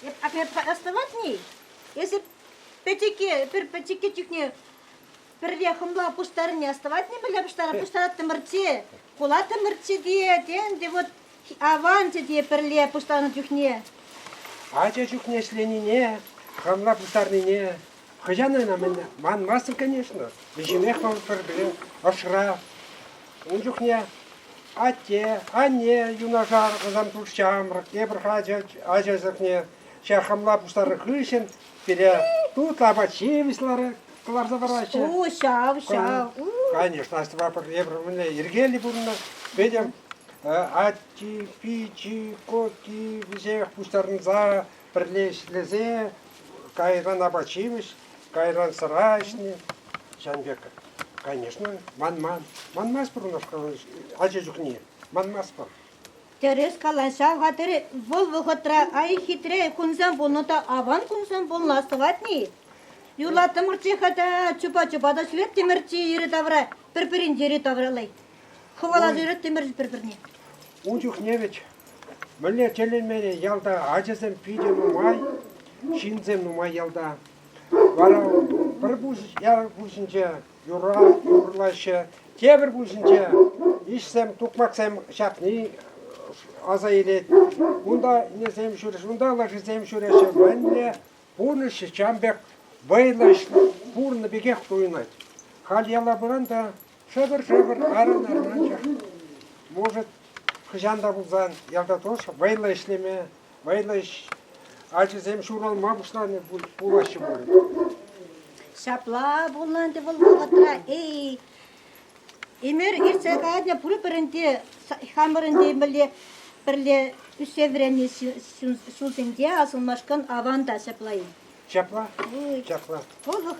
Эп аппе оставатни? Если пӗчӗке, пӗр пӗчӗке чухне пӗрре хӑмла пуҫтарни оставатни пӗле пуҫтара пуҫтараттӑмӑрччи, пулаттӑмӑрччи те, тенде вот аванччӗ те пӗрле пуҫтарнӑ чухне. Ача чухне ӗҫленине, хӑмла пуҫтарнине Хӑҫан ӑна мӗн манмастӑн, конечно. Вӗҫӗмех вӑл пӗр-пӗрин ӑшра. Ун чухне атте, анне юнашар ӑсан тус ҫамрӑк, тепӗр ача сӑртне ҫак хамла пустарнӑ хыҫҫӑн пире тутлӑ апат-ҫимӗҫ кӑларса параҫҫӗ. Ку ҫав, ҫав. Конечно, Астӑва пӗрле пӗрле йӗркеллӗ пурӑннӑ. Петӗм ачи, пичи, коки вӗсех пустарӑнса Пӗрле ӗҫлесе кайран апат-ҫимӗҫ, кайран сӑра ӗҫни. Ҫавӑн пек, конечно, манман. Манмасть пур ӑна ача чухне. Манмастпӑр. Тӗрӗс калаҫа хатӗр вӑл вӑхӑтра ай хитре кунсем пулнӑ та аван кунсем пулнӑ сӑватни. Юрлаттӑмӑрччӗ-ха та чупа-чупа та ҫӳлеттӗмӗрччӗ йӗри-тавра, пӗр-пӗрин йӗри-тавраллай. Хӑвала ӳреттӗмӗр пӗр-пӗрне. Ун чухне вӗт мӗнле тӗлӗнмерӗ ялта ачасем питӗ нумай, ҫынсем нумай ялта. Вара пӗр ял пуҫӗнче юра юрлаҫҫӗ, тепӗр пуҫӗнче иҫсем, тукмаксем ҫапни аса илет. Унта ӗнесем ҫӳреҫҫӗ, унта лашисем ҫӳреҫҫӗ. Мӗнле пурнӑҫ чан пек вӑйлӑ пурӑннӑ пекех туйӑнать. Халь яла пыран та Шӑпӑр-шӑпӑр тарӑннӑ районччӗ. Может, хӑҫан та пулсан ялта тоже вӑйлӑ ӗҫлеме, вӑйлӑ ӗҫ ачасем ҫуралма пуҫланӑ пулаҫҫӗ пулӗ. Ҫапла пулнӑ ӗнтӗ вӑл вӑхӑтра. Эй, Эмир иртсе кайнӑ пурпӗрӗн те, хамӑрӑн те мӗнле пӗрле ӳссе вӗреннӗ ҫулсенче асӑнмашкӑн аван та ҫапла-и? Ҫапла. Ҫапла. Вӑл вӑхӑт